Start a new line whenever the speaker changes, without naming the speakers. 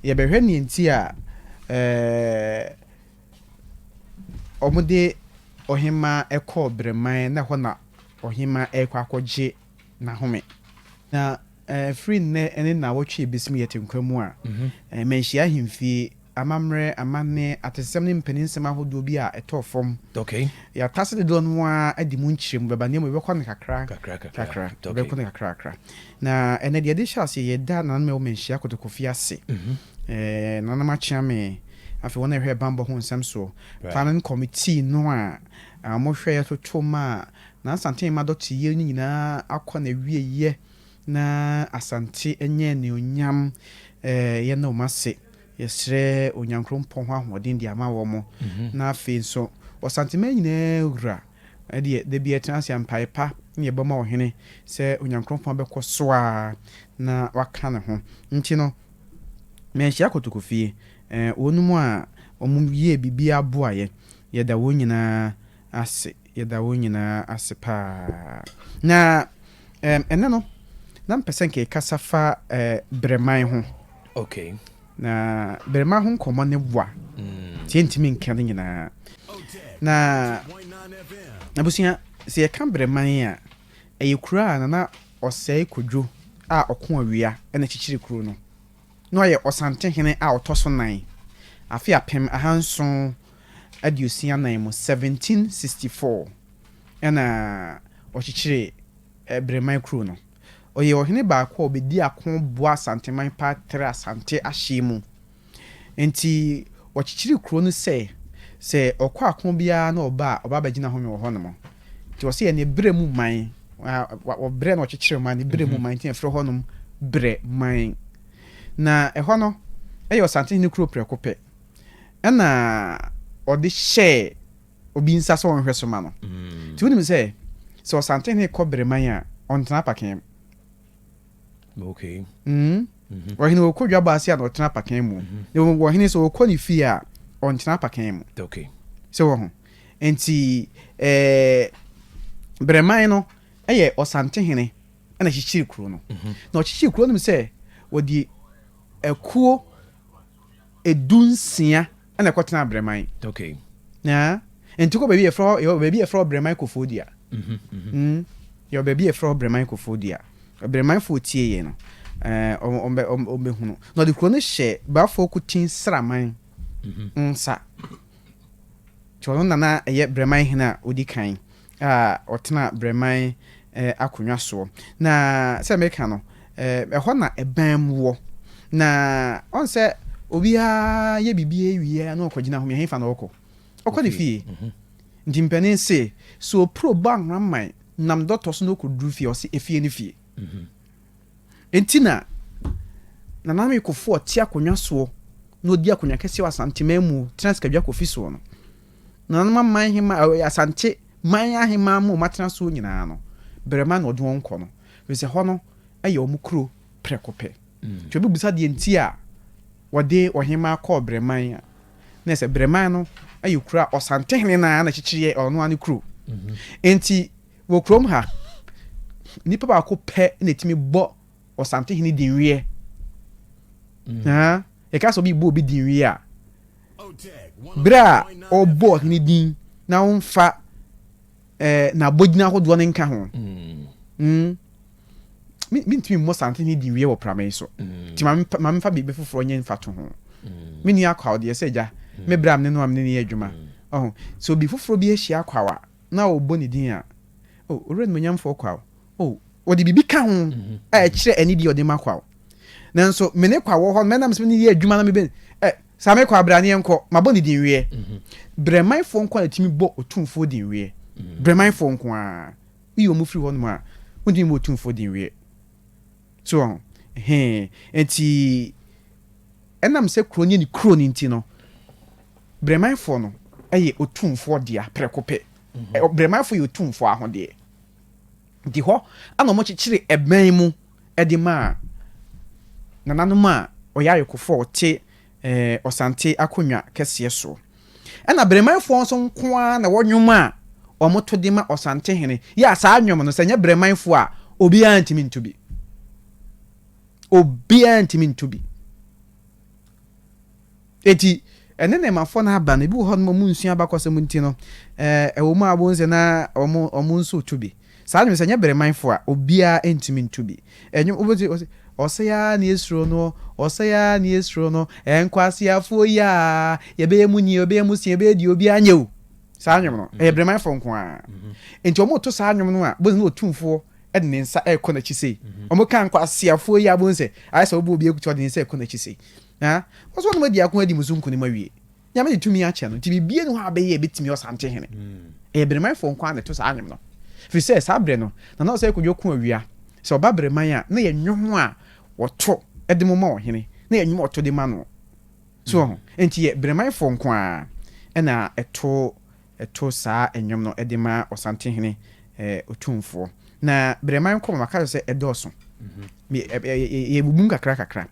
Yɛbɛhwɛ nea enti a wɔde ɔhemmaa kɔɔ Bereman na ɛhɔ na ɔhemmaa rekɔ akɔgye n'ahome. Na firi nnɛ ne nnawɔtwe a ɛbɛsim yɛ te nkwa mu a, manhyia ahemfie, amammerɛ, amanne, atesɛm ne mpaninsɛm ahodoɔ bi a ɛtɔɔ fam. Yɛatase
dodoɔ
no ara adi mu nkyerɛmu, bɛba nneɛma mu, yɛbɛkɔ no kakra kakra. Na ɛnnɛ de, yɛde hyɛ aseɛ, yɛda nananom a ɛwɔ manhyia kotokofie ase, nananom akyeame, afei wɔn a ɛhwɛ bammɔ ho nsɛm soɔ, planning committee no a wɔhwɛeɛ toto maa Nansanten mma dɔteyɛ no nyinaa akɔ n'awieeɛ na Asante anya anuonyam. Yɛda wɔn ase, yɛsrɛ Onyankrompɔn hɔ ahoɔden de ama wɔn. Na afei nso, Ɔsanteman nyinaa wura. Ɛndeɛ da biara tena ase a mpaeɛ pa ne yɛbɔ ma Ɔhene sɛ Onyankronkron abɛkɔ so ara na waka ne ho. Nti no, manhyia Kotoko fie. Ɛɛ, wɔnom a wɔyɛɛ biribiara boaeɛ, yɛda wɔn nyinaa ase, yɛda wɔn nyinaa ase pa ara. Na, ɛɛ, ɛnnɛ no, na mepɛ sɛ nka yɛkasa fa, ɛɛ, Berɛman ho. Okay.
Na
bɛrema ho nkɔmmɔ ne boa tie ntumi nka ne nyinaa. Na abusua, sɛ yɛka bɛrema yi a, ɛyɛ kuro a Nana Ɔsɛe Kwadwo a ɔko awia na kyekyere kuro no. Na ɔyɛ Ɔsantehene a ɔtɔ so nan, afe apem ahanson aduosia anan mu, 1764, na ɔkyekyere Bɛrema kuro no. Ɔyɛ ɔhene baako a ɔbɛdii ako boaa Asanteman pa trɛɛ Asante ahyeɛ mu. Enti wɔkyekyeree kuro no sɛ, sɛ ɔkɔ ako biara na ɔba a, ɔba bɛgyina home wɔ hɔnom. Nti wɔse yɛ ne berɛ mu man. Wɔ berɛ na ɔkyekyere man, ne berɛ mu man, nti na yɛfrɛ hɔnom berɛ man. Na ɛhɔ no yɛ Ɔsantehene kuro prɛko pɛ. Ɛna ɔde hyɛɛ obi nsa sɛ ɔnhwɛ so ma no. Nti wonim sɛ sɛ Ɔsantehene kɔ Bereman a, ɔntena apakan mu.
Okay. Mm.
Ɔhene ɔkɔ dwabɔ ase a na ɔtena apakan mu. Na mmom ɔhene sɛ ɔkɔ ne fie a, ɔntena apakan mu. Okay. Sɛ wɔ
ho.
Nti ɛɛ Bereman no yɛ Ɔsantehene na kyekyere kuro no. Na ɔkyekyere kuro no sɛ wɔde akuo edu nsia. ɛna ɛkɔ tena abrɛman okay yeah nti kɔ baabi ɛfrɛ hɔ yɛwɔ baabi ɛfrɛ hɔ brɛman kofoɔ dua mm yɛwɔ baabi ɛfrɛ hɔ brɛman kofoɔ dua brɛmanfoɔ tie yɛ no ɛɛ ɔmbɛhunu na ɔde kuro no hyɛ baafoɔ kutin sraman nsa kyɛ ɔno nana ɛyɛ brɛman hene a ɔdi kan a ɔtenaa Breman akonnwa soɔ. Na sɛ meka no, ɛhɔ na ban mu wɔ. Na ɔn sɛ obiara yɛ biribi awie a na ɔkɔgyina hɔ mia hefa na ɔkɔ? Ɔkɔ ne fie. Nti mpanin se, sɛ opuro bɔ anwamman nam dɔtɔ so na ɔkɔduru fie a, ɔse efie ne fie. Enti na Nana Ameyi Kofoɔ te akonnwa soɔ na ɔdi akonnwa kɛseɛ wɔ Asante man mu, tena Sikadwa Kofi soɔ no. Nananom aman hema, Asante man ahemmaa mu a wɔatena soɔ nyinaa no, Berɛma na ɔde wɔn kɔ no, ɛfiri sɛ hɔ no yɛ wɔn kuro prɛko pɛ. Nti obi bisa deɛ nti a wɔde ɔhemmaa kɔɔ Berɛman a, na ɛsɛ Berɛman no yɛ kuro a Ɔsantehene no ara na ɛkyekyere yɛ ɔno ara ne kuro. Enti. Wɔ kurom ha, nipa baako pɛ na etumi bɔ Ɔsantehene dinweɛ. Mm. Yɛka sɛ obi bɔ obi dinweɛ a, berɛ a ɔbɔ ɔhene din na ɔmfa eh, n'abɔgyina ahodoɔ no nka ho. Mm. Mm. mentumi mmɔ sante ne di wie wɔ prama yi so mm. nti ma memfa biribi foforɔ nyɛ mfa to ho mm. menni akwaw deɛ sɛ agya mm. me berɛ a mene no a mene ne yɛ adwuma ɔho sɛ obi foforɔ bi ahyia akwaw a na wɔbɔ ne din a, O Owura Animuonyamfoɔ Kwaw, o, wɔde biribi ka ho a ɛkyerɛ anidie a wɔde ma Kwaw. Nanso me ne Kwaw wɔ hɔ no, mɛnam so ne no yɛ adwuma na mebɛ, ɛ, Saame Kwaw, bra na yɛnkɔ, mabɔ ne din weɛ. Brɛmanfoɔ nko ara na ɛtumi bɔ Otumfoɔ din weɛ. Brɛmanfoɔ nko ara. Woyi wɔn firi hɔnom a, wɔntumi mmɔ Otumfoɔ din weɛ. So wɔn ho? Hee. Enti ɛnam sɛ kuro no yɛ ne kuro no nti no, Brɛmanfoɔ no yɛ otumfoɔ dea prɛko pɛ. Brɛmanfoɔ yɛ otumfoɔ ahodeɛ. Nti hɔ na wɔkyekyere ɛbɛn mu de maa nananom a ɔyɛ ayekofoɔ a ɔte Ɔsante akonnwa kɛseɛ soɔ. Ɛna Brɛmanfoɔ nso nko ara na ɛwɔ nnwom a wɔto de ma Ɔsantehene. Yɛ a saa nnwom no, sɛ ɛnyɛ Brɛmanfoɔ a, obiara ntumi nto bi. Obiara ntumi nto bi. Enti, ɛne ne mafo no aba no, ebi wɔ hɔnom a wɔnsua abakɔsɛm nti no, ɛwɔ mu a wohu sɛ na wɔn wɔn nso retu bi. Saa nnwom sɛ ɛnyɛ beremanfo a, obiara ntumi ntu bi. Ɛnwom wobɛti ɔse, ɔsɛe ara na yɛsuro no, ɔsɛe ara na yɛsuro no, nkwaseafoɔ yi a, yɛbɛyɛ mu nie, yɛbɛyɛ mu sie, yɛbɛyɛ deɛ obiara nyɛ o. Saa nnwom no, ɛyɛ beremanfo nko ara. Enti wɔreto saa nnwom no a, wobɛhu sɛ na otumfoɔ de ne nsa rekɔ n'akyi sei. Mhm. Wɔn kan kɔ aseafoɔ yi abom sɛ ayɛ sɛ wɔbɔ obi akutu ɔde ne nsa rekɔ n'akyi sei. Na wɔn nso wɔn adi ako adi mu so nkunim awie. Nyame de tumi akyɛ no nti biribiara ni hɔ a bɛyɛ ebetumi ɔsante hene. Mm. Ɛyɛ birimanfoɔ nko ara na ɛto saa nwom no. Firi sɛ saa berɛ no na na ɔsɛ kodwo ko awia sɛ ɔba biriman a na yɛ nwom a wɔto de mo ma ɔhene na yɛ nwom ɔto de ma no. So ho mm. nti yɛ birimanfoɔ nko ara ɛna ɛto to saa nnwom no de ma Ɔsantehene Otumfoɔ. Na berɛ mma nkɔ, ma maka kyerɛ wo sɛ ɛdɔɔso. Yɛbubu mu kakrakakra.